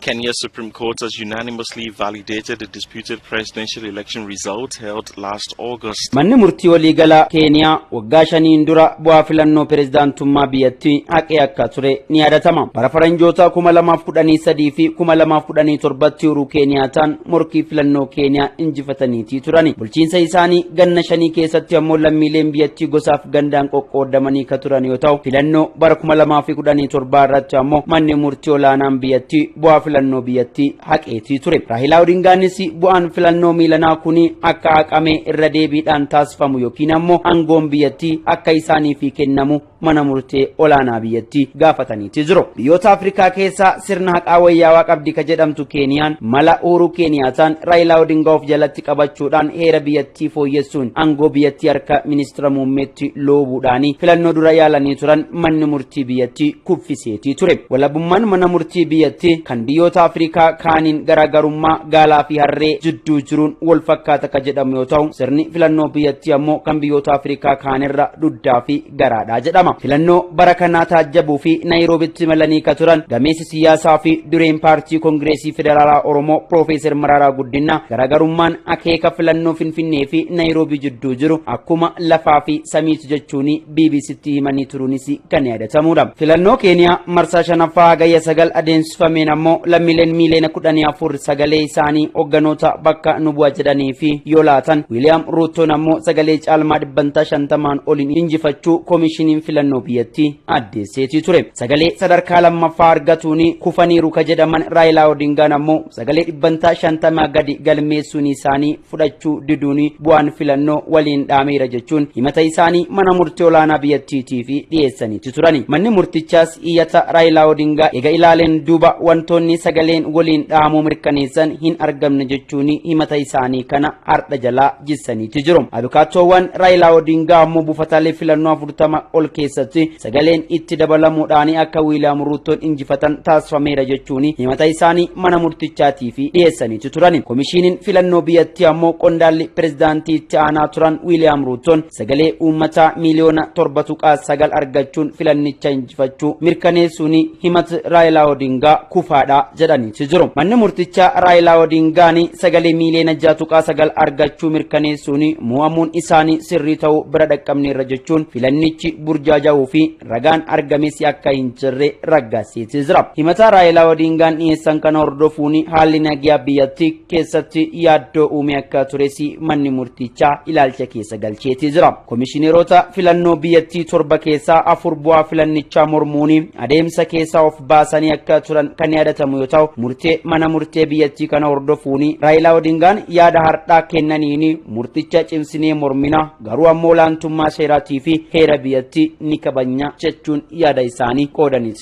Kenya's Supreme Court has unanimously validated the disputed presidential election results held last August. Manni murtii waliigalaa Keeniyaa waggaa shaniin dura bu'aa filannoo pirezidaantummaa biyyattii haqee akka ture ni yaadatama. Bara faranjootaa 2013 fi 2017tti Uhuruu Keeniyaataan morkii filannoo Keeniyaa injifataniitii turani. Bulchiinsa isaanii ganna shanii keessatti ammoo lammiileen biyyattii gosaaf gandaan qoqqoodamanii ka turan yoo ta'u, filannoo bara 2017 irratti ammoo manni murtii olaanaan biyyattii bu'aa filannoo biyyattii haqeetii ture. Raahilaa Odingaanis bu'aan filannoo miilanaa kuni akka haqamee irra deebiidhaan taasifamu yookiin ammoo angoon biyyattii akka isaaniifii kennamu mana murtee olaanaa biyyattii gaafataniiti jiru. Biyyoota Afrikaa keessaa sirna haqaa wayyaawaa qabdi ka jedhamtu Keeniyaan mala Uuruu Keeniyaataan Raayilaa Odingaa of jalatti qabachuudhaan heera biyyattii fooyyessuun aangoo biyyattii harka ministira muummeetti loobuudhaanii filannoo dura yaalanii turan manni murtii biyyattii kuffisee tii ture. Walabummaan mana murtii biyyattii kan biyyoota Afrikaa kaaniin garaagarummaa gaalaa fi harree jidduu jiruun wal fakkaata ka jedhamu yoo ta'u, sirni filannoo biyyattii ammoo kan biyyoota Afrikaa kaanirra duddaa fi garaadha jedhama. Filannoo bara kanaa taajjabuu fi Naayiroobitti imalanii ka turan gameessi siyaasaa fi dureen paartii Kongireesii Federaalaa Oromoo Piroofeesar Maraaraa Guddinaa garaagarummaan akeeka filannoo Finfinnee fi Naayiroobii jidduu jiru akkuma lafaa fi samiiti jechuun BBCtti himanii turuunis kan yaadatamuudha. Filannoo Keeniyaa marsaa shanaffaa hagayya sagal adeemsifameen ammoo lammiileen miiliyoona kudhanii afur sagalee isaanii hogganoota bakka nu bu'a jedhanii fi yoo laatan Wiiliyaam Ruuttoon ammoo sagalee caalmaa dhibbantaa shantamaan oliin injifachuu koomishiniin filannoo biyyattii addeesseetii ture. Sagalee sadarkaa lammaffaa argatuun kufaniiru ka jedhaman Raayilaa Odingaan ammoo sagalee dhibbantaa shantamaa gadi galmeessuun isaanii fudhachuu diduun bu'aan filannoo waliin dhaameera jechuun himata isaanii mana murtii olaanaa biyyattiitiif dhiyeessaniiti turani. Manni murtichaas iyyata Raayilaa Odingaa ega ilaaleen duuba wantoonni sagaleen waliin dhahamuu mirkaneessan hin argamne jechuun himata isaanii kana hardha jalaa jissaniiti jiru. Abukaattoowwan Raayilaa Odingaa ammoo buufataalee filannoo 40 ol keessatti sagaleen itti dabalamuudhaan akka Wiiliyaam Ruuttoon injifatan taasifameera jechuun himata isaanii mana murtichaatii fi dhiyeessaniitu turan. Komishiiniin filannoo biyyattii ammoo qondaalli pirezidaantii itti aanaa turan Wiiliyaam Ruuttoon sagalee uummataa miiliyoona torba tuqaa sagal argachuun filannicha injifachuu mirkaneessuun himata Raayilaa Odingaa kufaadha jedhaniitu jiru. Manni murtichaa Raayilaa Odingaan sagalee miiliyoona jaha tuqaa sagal argachuu mirkaneessuun mo'amuun isaanii sirrii ta'uu bira dhaqqabneerra jechuun filannichi burjaaja'uu fi ragaan argames akka hin jirre raggaasiisee jira. Himataa Raayilaa Odiingaan dhiyeessan kana hordofuun haalli nagaa biyyattii keessatti yaaddoo uumee akka tures manni murtichaa ilaalcha keessa galcheetii jira. Komishineerota filannoo biyyattii torba keessaa afur bu'aa filannichaa mormuun adeemsa keessaa of baasanii akka turan kan yaadatamu yoo ta'u murtee mana murtee biyyattii kana hordofuun Raayilaa Odiingaan yaada hardhaa kennaniin murticha cimsinee mormina Garuu ammoo olaantummaa seeraatii fi heera biyyattii ni kabajna jechuun yaada isaanii qoodaniiru.